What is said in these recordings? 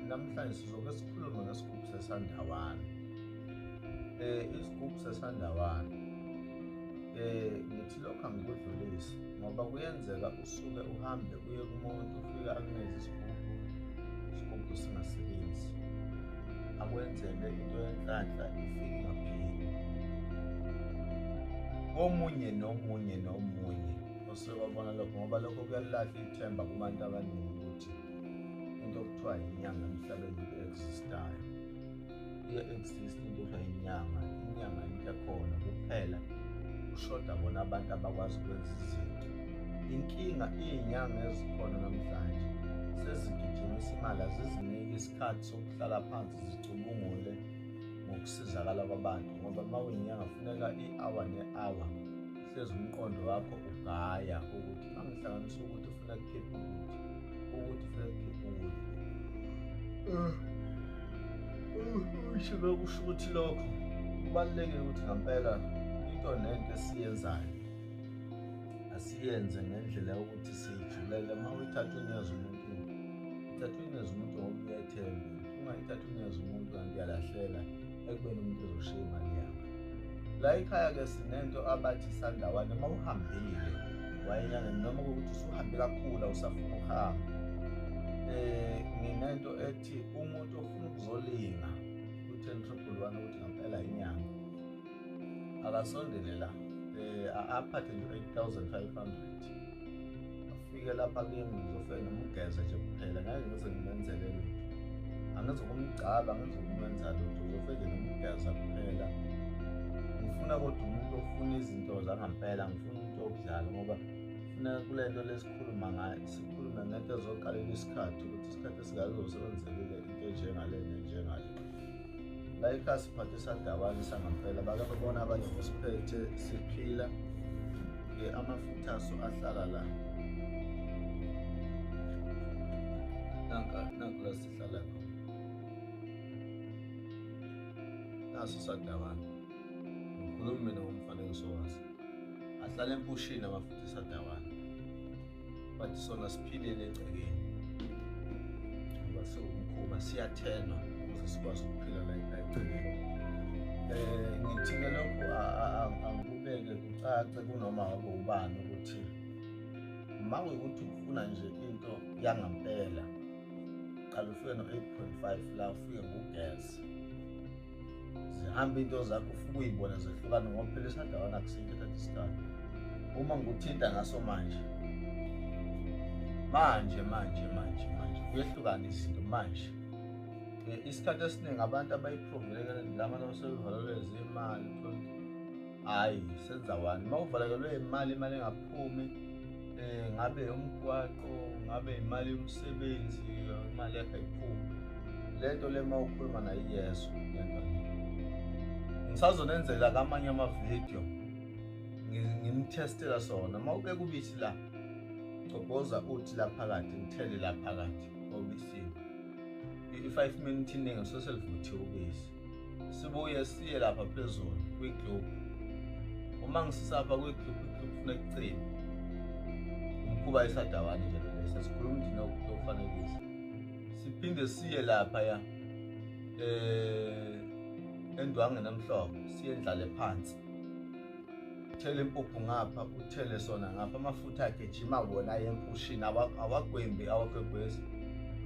Namhlanje sizoke sikhulume ngesigubhu sesandawana. Eh isigubhu sesandawana. Eh ngithi lokho angikudlulisi ngoba kuyenzeka usuke uhambe uye kumuntu ufika akuneze isigubhu isigubhu singasebenzi. Akwenzele into yenhlanhla ifike ingapheli. Omunye nomunye nomunye osuke wabona lokho ngoba lokho kuyalahla ithemba kubantu abaningi. into okuthiwa yinyanga emhlabeni i-existayo iye-exist into okuthiwa yinyanga inyanga into ekhona kuphela kushoda bona abantu abakwazi ukwenza izinto inkinga iy'nyanga ezikhona namhlanje sezigijimisa imali aziziniki isikhathi sokuhlala phansi zicubungule ngokusizakala kwabantu ngoba uma uyinyanga funeka i-hour ne-hour hlezi umqondo wakho ugaya ukuthi angihlanganisa ukuthi ufuna kukhipha ukuthi ukuthi ufuna kukhipha ukuthi eh, eh, usho bekusho ukuthi lokho kubalulekile ukuthi ngampela into nento esiyenzayo asiyenze ngendlela yokuthi siyijulele uma uyithatha unyeza umuntu uthatha unyeza umuntu ngoba uyethembe uma ithatha unyeza umuntu kanti uyalahleka ekubeni umuntu ezoshiya imali yakhe la ikhaya ke sinento abathi sandawane uma uhambile wayenyane noma ukuthi usuhambe kakhulu awusafuna ukuhamba um eh, nginento ethi umuntu ofuna ukuzolinga u-ten triple one ukuthi ngampela inyanga akasondele la um aphathe nje u-eight thousand five hundred afike lapha kimi ngizofike ngimugeze nje kuphela ngeke ngize ngimenzele lutho angizokumgcaba angizokumenza lutho ngizofike ngimugeza kuphela ngifuna kodwa umuntu ofuna izinto zangampela ngifuna umuntu okudlala ngoba funa kule nto lesikhuluma ngayo sikhulume ngento ezoqalela isikhathi ukuthi isikhathi esingazosebenzekile into enjengale nenjengale la ekhaya siphathe sadabane sangampela bake babona abanye kusiphethe siphila ke amafutha aso ahlala la nanka nanku la sihlala khona naso sadabane ngikhuluma mina ngomfanekiso waso ahlala empushini amafutha sadabane but sona siphilele egcekeni ngoba siwumkhuba siyathenwa ukuze sikwazi ukuphila la egcekeni um eh, ngithike lokhu angikubeke kucace kunoma wabe ubani ukuthi uma kuyukuthi ufuna nje into yangampela qala ufike no-8 point 5 la ufike ngugesi zihambe into zakho ufike uyibona zehlukane ngoba phela esandawana akusinto that isikhathi uma ngikuthinta ngaso manje manje manje manje manje kuyehlukana izinto manje isikhathi esiningi abantu abayiprovele kanti lama nosebevalelwe zimali hayi senza wani uma uvalekelwe imali imali engaphumi um ngabe umgwaqo ngabe imali yomsebenzi imali yakhe ayiphumi le nto le uma ukhuluma nayo iyeso lento ngisazonenzela kamanye amavidiyo ngimthestela sona uma ubeka ubisi la gcoboza uthi la phakathi ngithele la phakathi obisini i-five minute iningi soselivuthiwe ubisi sibuye siye lapha phezulu kwi-group uma ngisisapha kwi-group i-group funa ekucini umkhuba esadawani nje lesa sikhuluma umndini okufanekisa siphinde siye lapha ya eh endwange namhlophe siye ndlale phansi uthele impuphu ngapha uthele sona ngapha amafutha akhe jima wona aye empushini awagwembi awagwegwezi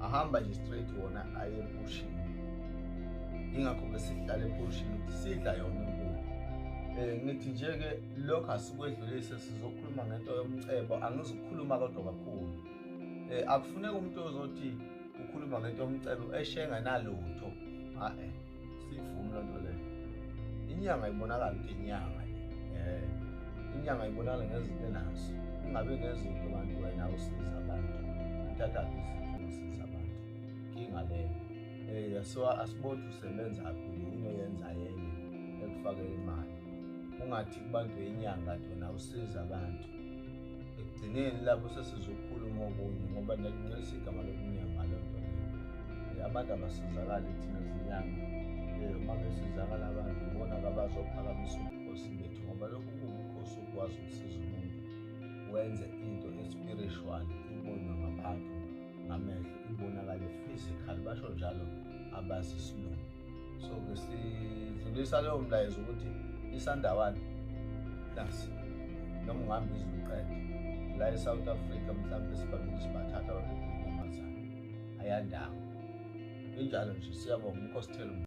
ahamba nje straight wona aye empushini ingakho-ke sihlala empushini ukuthi sidla yona impuphu um eh, ngithi nje-ke lokho asikwedlulise sizokhuluma ngento yomcebo angizukukhuluma kodwa kakhulu um eh, akufuneki umuntu ozothi ukhuluma ngento yomcebo eshenganalutho a-e siyivumi loo nto leyo inyanga ibonakala ukuthi inyanga le um inyanga ibonakala ngezinto enazo ingabe ngezinto abantu wena usiza abantu uthathaphi izinto usiza abantu nkinga leyo um so asiboni ukuthi usebenza phi yini oyenza yenye ekufakela imali ungathi kubantu yenyanga tona usiza abantu ekugcineni lapho sesizokhuluma okunye ngoba nalingcolisa igama lokunyanga loo nto leyo Eh, abantu abasizakali thina zinyanga Eh, uma besizakala abantu bona kabazophakamisa ubukhosi bethu ngoba lokhu kuwubukhosi ukwazi ukusiza umuntu wenze into espiritual ibonwe ngabantu ngamehlo ibonakale physical basho njalo abazi isilungu so ke sidlulisa leyo mlayezo ukuthi isandawana nasi noma ungihamba iziluqede la e-south africa mhlawumbe sibambile sibathatha abantu amazana ayandawo injalo nje siyabonga umkhosithelo